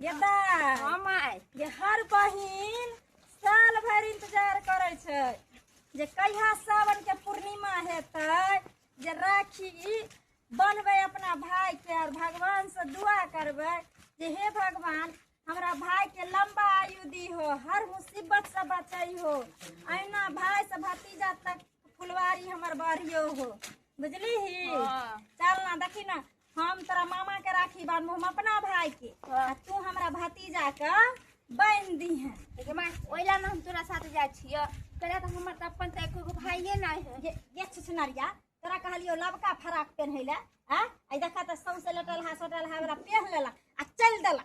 ये दाय हँ माय जे हर बहिन साल भरि इंतजार करै छै जे कहिया सावन के पूर्णिमा हेतै जे राखी बनबै अपना भाई के और भगवान से दुआ करबै जे हे भगवान हमरा भाई के लंबा आयु दी हो हर मुसीबत से बचाई हो अहिना भाई से भतीजा तक फुलवारी हमर बढ़ियो हो बुझली ही हाँ। चल ना देखी ना हम तोरा मामा के राखी बांधबो हम अपना भाई के आ तू हमरा भतीजा के बांध दी है गे माय ओइ ला ने हम तोरा साथे जाइ छियो कहला त हमर त अपन त एको गो भाइये नै है ये ये सुसनरिया तोरा कहलियो लबका फराक पहनै ले आ आई देखा त सौंसे लटल हा सटल हा वाला पहन लेला आ चल देला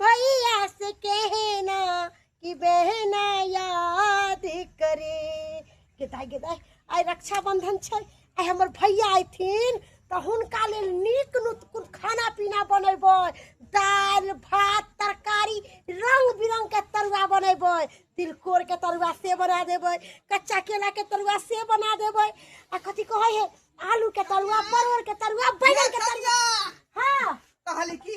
भैया से कहना कि बहना याद करे गेदाय गेदाय आइ रक्षाबंधन छै आइ हमर भैया अयथिन तऽ हुनका लेल नीक नुतकुन खाना पीना बनेबै दालि भात तरकारी रंग बिरंग के तरुआ बनेबै तिलकोर के तरुआ से बना देबै कच्चा केला के तरुआ से बना देबै आ कथी कहै है आलू के तरुआ परवल के तरुआ बैगन के तरुआ हाँ कहली की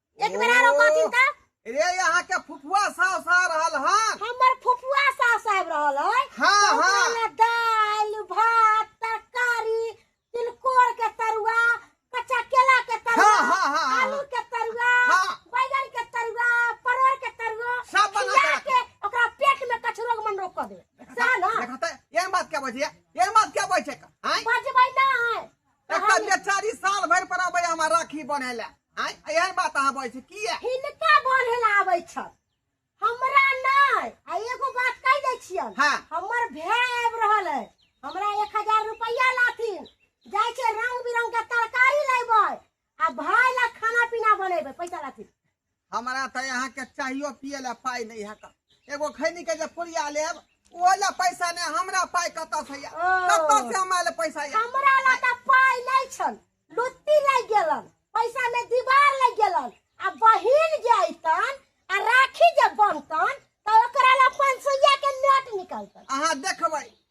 एक बेर आरो कहथिन त रे यहाँ के फुफुआ सास आ रहल हन हमर फुफुआ सास आबि रहल है हाँ, तऽ ओकरा हाँ। ले दालि भात तरकारी तिलकोर के तरुआ कच्चा केला के तरुआ हाँ, हाँ, हाँ, हाँ। आलू के तरुआ हाँ। बैगन के तरुआ परोर के तरुआ सब बना खिया के के ओकरा पेट में कछरोग मन रोक दे सह ना देखा त ये बात क्या बजे ये बात क्या बजे का आय बजबै ना है एकर बेचारी साल भरि पर अबै हमरा राखी बने ले आय एहन बात अहाँ बजै छी किया हिनका बढ़े ला आबै छ हमरा नै आ एगो बात कह दै छियन हाँ। हमर भाय आब रहल है हमरा 1000 रुपया लाथिन जाय छै रंग बिरंग के तरकारी लेबै आ भाय ला खाना पीना बनेबै पैसा लाथिन हमरा तऽ अहाँके चाहियो पिए लए पाइ नहि हैत एगो खैनीके जे पुरिया लेब ओहो लए पैसा नहि हमरा पाइ कतऽसँ यऽ ओ। कतऽसँ हमरा लए पैसा यऽ हमरा लग तऽ पाइ नहि छल लुत्ती लागि गेलन पैसा में दीवार लागि गेलन आ बहिन जे अइतन आ राखी जे बनतन तऽ ओकरा लग पाँच सौया के नोट निकलतन अहाँ देखबै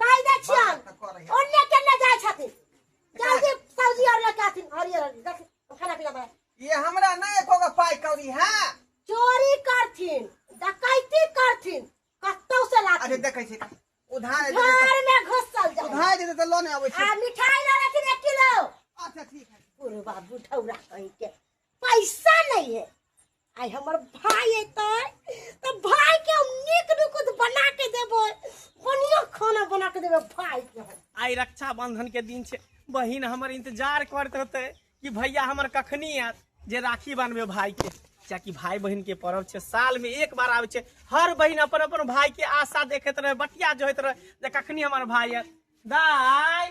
कहि दै छियन ओन्ने केने जाइ छथिन जल्दी सब्जी और लेके आथिन हरियर हरियर देख खाना पीना बना ये हमरा नहीं एको गो पाई कौड़ी है चोरी करथिन डकैती करथिन कतौ से अरे लाथिन देखे छी उधार दे देते- घर में घुसल जाए उधार दे देते लोने आबै छै आ मिठाई ला लेथिन एक किलो अच्छा ठीक है पूर्वा बुढ़ौरा कहीं के पैसा नहीं है आइ हमर भाय एतै तऽ भाय के हम नीक नुकुत बना के देबै बढ़िया खाना बना के देबै भाय के हम। आइ रक्षाबंधन के दिन छै बहिन हमर इंतजार करत होते कि भैया हमर कखनी आयत जे राखी बांधबे भाई के कियाकि भाई बहिन के पर्व छै साल में एक बार आबै छै हर बहिन अपन अपन भाई के आशा देखैत रहे बटिया जोहैत रहे जे कखनी हमर भाई आयत दाय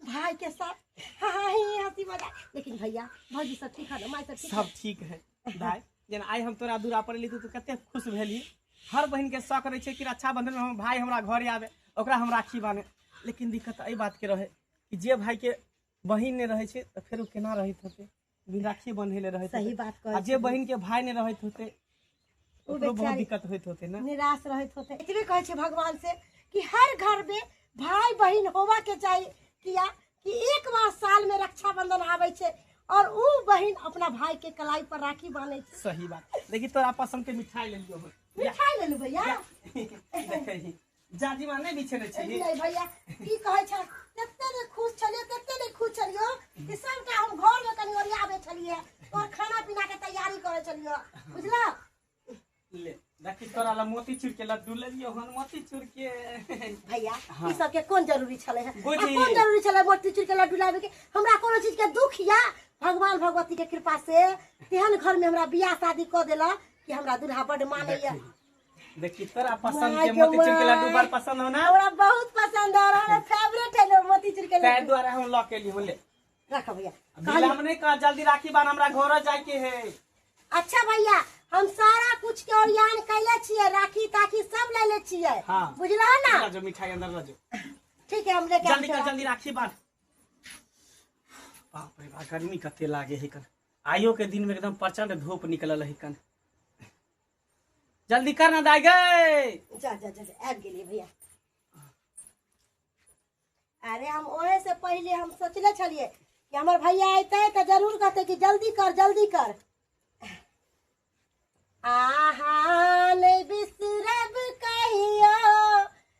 भाई के साथ हाँ हाँ ही हंसी मजाक लेकिन भैया भौजी सब ठीक है ना माय सब ठीक है सब ठीक है भाय जेना आइ हम तोरा दूरा पर एली तू कते खुश भेली हर बहन के शौक रहे छै कि रक्षाबंधन में हम भाय हमरा घर आवे ओकरा हम राखी बाने लेकिन दिक्कत एहि बात के रहे कि जे भाय के बहिन नहि रहे छै तऽ फेर ओ केना रहैत हेतै भी राखी बंधेले रहत सही होते। बात आ कहै जे छी बहन के भाई ने रहत होते ओ ओकरो बहुत बेचारी दिक्कत होत होते ना निराश रहत होते इतने कहै छी भगवान से कि हर घर में भाई बहन होवा के चाहिए किया कि एक बार साल में रक्षाबंधन आवे छे और ऊ बहन अपना भाई के कलाई पर राखी बांधे छे सही बात देखी तोरा पसंद के मिठाई ले लियो मिठाई ले लू भैया देखही जाजी माने भी छेने छी एलियै भैया की कहै छै कते ने खुश छलियै कते ने खुश छलियो कि सबटा हम घर में कनी ओरियाबे छलियै और खाना पीना के तैयारी करे छलियो बुझला ले देखी तोरा ला मोती चूर के लड्डू ले लियो हन मोती चूर के भैया हाँ। ई सब के कोन जरूरी छले है आ बुझी। कोन जरूरी छले मोती चूर के लड्डू लाबे के हमरा कोनो चीज के दुख या भगवान भगवती के कृपा से तेहन घर में हमरा बियाह शादी क देला कि हमरा दूल्हा बड माने या देखी तोरा पसंद के मोतीचूर के लड्डू बड़ पसंद हो ना हमरा बहुत पसंद आ रहा है फेवरेट है लो मोतीचूर के ताहि लड्डू दुआरे हम लऽ के एलियौ ले रख भैया बिल हम नहि कह जल्दी राखी बान हमरा घर जाय के है अच्छा भैया हम सारा कुछ के ओरियान कैले छिए राखी ताखी सब ले ले छिए हाँ। बुझला ना लऽ जो मिठाई अंदर लऽ जो ठीक है हम लेके जल्दी आबै कर छी। जल्दी राखी बान बाप रे बाप गर्मी कते लागे है कन आइयो के दिन में एकदम प्रचंड धूप निकलल है कन जल्दी कर ना दाई गए जा जा जा जा, आबि गेलियै भैया अरे हम ओहे से पहिले हम सोचले छलियै कि हमर भैया अयतै तऽ जरूर कहतै कि जल्दी कर जल्दी कर आहा नहि बिसरब कहियो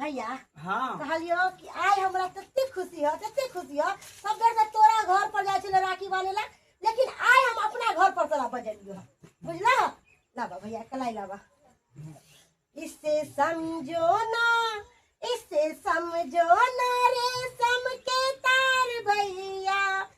भैया हाँ कहलियो कि आइ हमरा तते खुशी हो तते खुशी हो सब बेर से तोरा घर पर जाय छले राखी बांधे ला लेकिन आइ हम अपना घर पर तोरा बजलियो बुझला लाबा भैया कलाई लाबा इससे समझो ना इससे समझो ना रे सम के तार भैया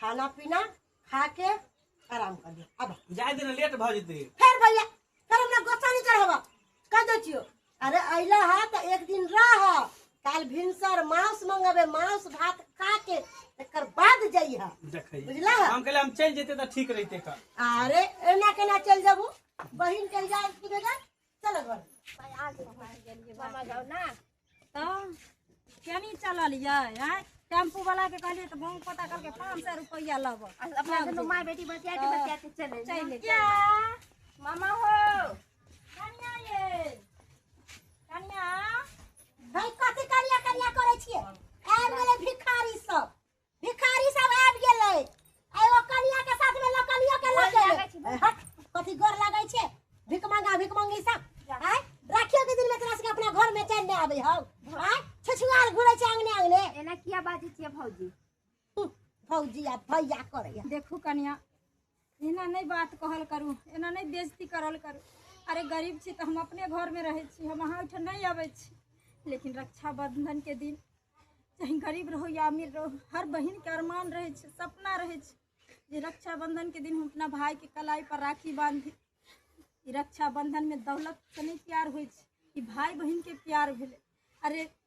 खाना पीना खा के आराम कर लियो अब जाए दिन लेट भ जेते फिर भैया फिर हमरा गोस्सा नहीं चढ़ावा कह दे छियो अरे अइला है तो एक दिन रह काल भिनसर मांस मंगबे मांस भात खा के एकर बाद जइहा देखै बुझला है? हम कहले हम चल जेते त ठीक रहते का अरे एना केना चल जाबू बहिन के इजाजत पूछेगा चल घर भाय आ गेल भाय गेल जे बाबा बाबा जाओ ना तब केनी चललियै आँय टेम्पू वाला के कहलियै तऽ बहुत पता करके पाँच सौ रुपया लेबऽ आ अपना दुनू माय बेटी बतिया के बतिया के चले चलि क्या मामा हो कनिया ये कनिया भाय कथी करिया करिया करै छियै आबि गेलै भिखारी सब भिखारी सब आबि गेलै आ एगो कनिया के साथ में लकनियो के लग गेलै हट कथी गोर लागै छै भिख मंगा भिख मंगी सब आय राखियो के दिन में तोरा सबके अपना घर में चैन नहि आबै हौ आय छछुआर घुरै छै अंगने अंगने एना किया बाजै छियै भौजी फौजी आ भैया करैया देखू कनिया एना नहि बात कहल करू एना नहि बेजती करल करू अरे गरीब छी तऽ हम अपने घरमे रहै छी हम अहाँ ओहिठाम नहि अबै छी लेकिन रक्षाबंधनके दिन चाहे गरीब रहू या अमीर रहू हर बहिनके अरमान रहै छै सपना रहै छै जे रक्षाबंधनके दिन हम अपना भायके कलाई पर राखी बांधी ई रक्षाबंधनमे दौलतसँ नहि प्यार होइ छै ई भाय बहिनके प्यार भेलै अरे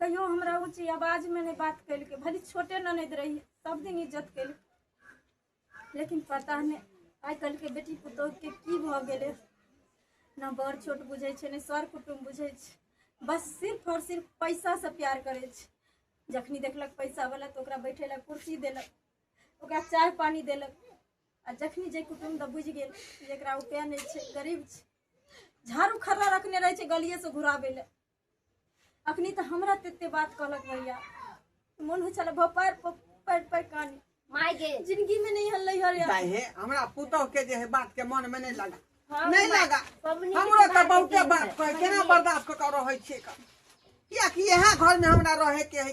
कहियो हमरा ऊँची आवाज में नहीं बात कैल के भले छोटे ननद रही सब दिन इज्जत कैल लेकिन पता नहीं आइ कल के बेटी पुतोह के की भ गेले ना बड़ छोट बुझे छे ने सर कुटुम बुझे छे बस सिर्फ और सिर्फ पैसा से प्यार करे छे जखनी देखलक पैसा वाला तो ओकरा बैठे ला कुर्सी देलक ओकरा चाय पानी देलक आ जखनी जे कुटुम द बुझ गेल जेकरा उपाय नहीं छे गरीब छे झाड़ू खड़ा रखने रहे छै गलिए से घुराबे ले अखनी तऽ हमरा तेते बात कहलक भैया मन हो छल भपार पर पर कानी माय गे जिंदगी में नहीं हल्लै हर यार दाई हे हमरा पुतोह के जे है बात के मन में नहीं लगा हाँ, नहीं माय- लगा पबनी हमरो के तऽ बात बहुते होती बात है। कहे केना बर्दाश्त कऽ के रहै छियै का किया कि यहाँ घर में हमरा रहे के है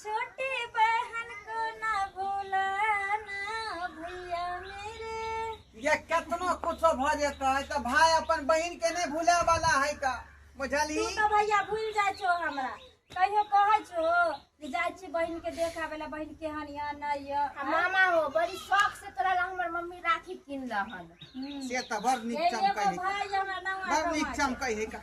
छोटी बहन को ना भूलाना भैया मेरे ये कितनो कुछ भ जेता है तो भाई अपन बहन के नहीं भूले वाला है का बुझली तू तो भैया भूल जाए छो हमरा कहियो कह छो कि जाए छी बहन के देख आवेला बहन के हन या नहीं या आ मामा हो बड़ी शौक से तोरा ला हमर मम्मी राखी किनल हन से तो बड़ नीक ये एगो चमकै है भाई हमरा ना बड़ नीक चमकै है का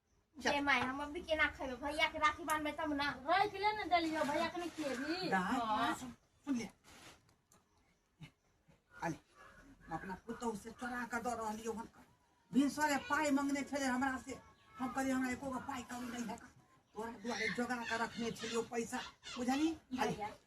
जे माय हम अभी केना खेबै भैया के राखी बांधबै तब ना रह के ले ना देलियो भैया के नहीं खेबी हाँ। सुन ले अरे हम अपना पुतहु से चोरा के दऽ रहलियो हन भिनसरे पाइ मंगने छले हमरा से हम कहलियै हमरा एको गो पाइ कमी नहि है तोरा दुआरे जोगा के रखने छलियो पैसा बुझली अरे भैया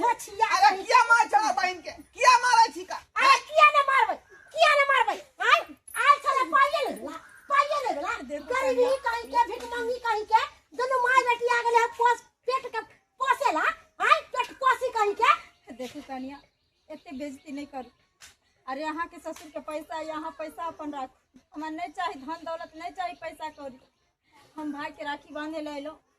गछिया अरे छै। किया मार छला बहन के किया मारे छी का अरे किया ने मारबै किया ने मारबै आय आय छले पाइए ले देला पाइए ले देला गरीबी कहीं के भिख मंगी कहीं के दुनू माय बेटी आ गेले पोस पेट के पोसेला आय पेट पोसी कहीं के देखू कनिया एते बेइज्जती नहीं करू अरे अहाँ के ससुर के पैसा या अहाँ पैसा अपन राखू हमरा नहीं चाही धन दौलत नहीं चाही पैसा कौड़ी हम भाई के राखी बांधे ले एलो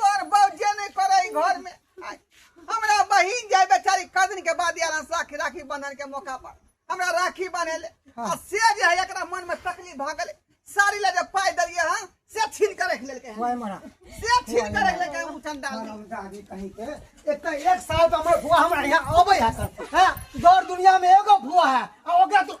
तोर बौजे नहीं करे ई घर में आय, हमरा बहिन जाय बेचारी कदन के बाद यार राखी राखी बंधन के मौका पर हमरा राखी बनेले आ से जे है एकरा मन में तकलीफ भ गेले साड़ी ले जे पाय देलिए हां से छीन के रख लेलके हां मरा से छीन के रख लेलके उ चंडाल ने। दादी कहीं के एक तो एक साल तो हमारे भुआ हमारे यहाँ आवे है सर हाँ दौर दुनिया में एगो भुआ है और ओकरा तो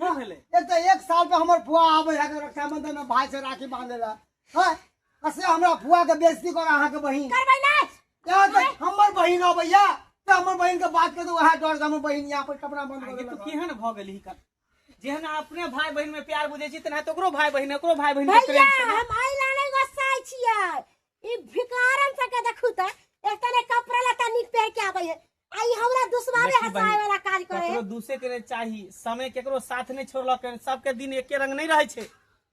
की भेलै एक तऽ एक साल पे हमर फुआ आबै है रक्षाबंधन में भाई से राखी बांधे ला हां असे हमरा फुआ के बेइज्जती कर अहाँ के बहिन करबै ना यहाँ तो हमर बहिन अबैया त हमर बहिन के बात कर दो वह डर हमर बहिन यहाँ पर कपड़ा बंद कर देलक केहन भ गेल ही कर जेहन अपने भाई बहिन में प्यार बुझे छी तेना तकरो भाई बहिन एकरो भाई बहिन के प्रेम छै हम आइ लाने गोसाई छियै ई भिकारन सके देखू त एक तने कपड़ा लता निक पहन के आबै है आ ई हमरा दुश्मने देखी हसाए बहिन, वाला काज करे ककरो दूसे के नहीं चाही समय केकरो साथ नहीं छोड़लक है। सबके दिन एके रंग नहीं रहे छे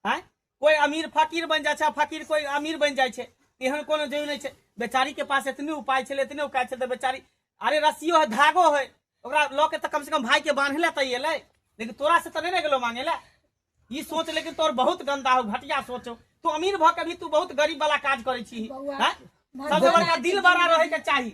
हैं कोई अमीर फकीर बन जाए छे फकीर कोई अमीर बन जाए छे एहन कोनो जरूरी नहीं छे बेचारी के पास इतने उपाय छे इतने उपाय छे तो बेचारी अरे रस्सियो है धागो है ओकरा लऽ के तो कम से कम भाई के बांधे ले तैये ले लेकिन तोरा से तो नहीं ने गेलो मांगे ले ई सोच लेकिन तोर बहुत गंदा हो घटिया सोच हो तू अमीर भ के भी तू बहुत गरीब वाला काज करे छी बौआ, हैं? सबसे बड़का दिल बड़ा रहे के चाही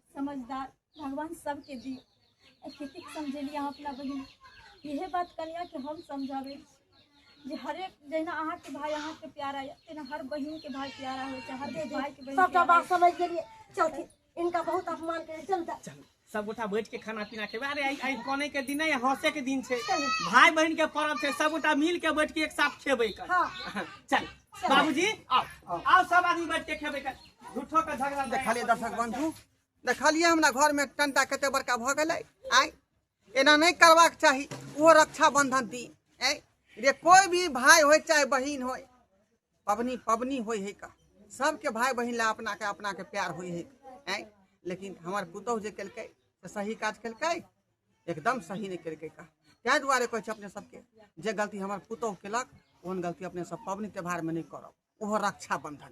समझदार भगवान सबके दी एतेक समझेली अहाँ अपना बहिन इहे बात कनियाके हम समझाबै छी जे हरेक जहिना अहाँके भाय अहाँके प्यारा यऽ तहिना हर बहिनके भाय प्यारा होइ छै हर भायके बहिन सबटा प्यारा बात समझ गेलिए चलती इनका बहुत अपमान करे चल जा चल सब गोटा बैठ के खाना पीना खेबै अरे आइ आइ कने के दिन है हंसे के दिन छै भाय बहन के पर्व छै सब गोटा मिल के बैठ के एक साथ खेबै कर हाँ। चल बाबूजी आओ आओ सब आदमी बैठ के खेबे के झूठो के झगड़ा नहीं। देखलिए दर्शक बंधु देखलिए हमरा घर में टंटा कते बड़का भऽ गेलै आय एना नहि करबाक चाही ओ रक्षा बंधन दी आय रे कोई भी भाय होय चाहे बहिन होय पबनी पबनी होय है का सबके भाय बहिन ला अपना के अपना के प्यार होय है आय लेकिन हमर पुतोह जे केलकै से सही काज केलकै एकदम सही नहि केलकै का ताहि दुआरे कहै छै अपने सबके जे गलती हमर पुतोह केलक ओहन गलती अपने सब पाबनि त्योहारमे नहि करब ओहो रक्षाबंधन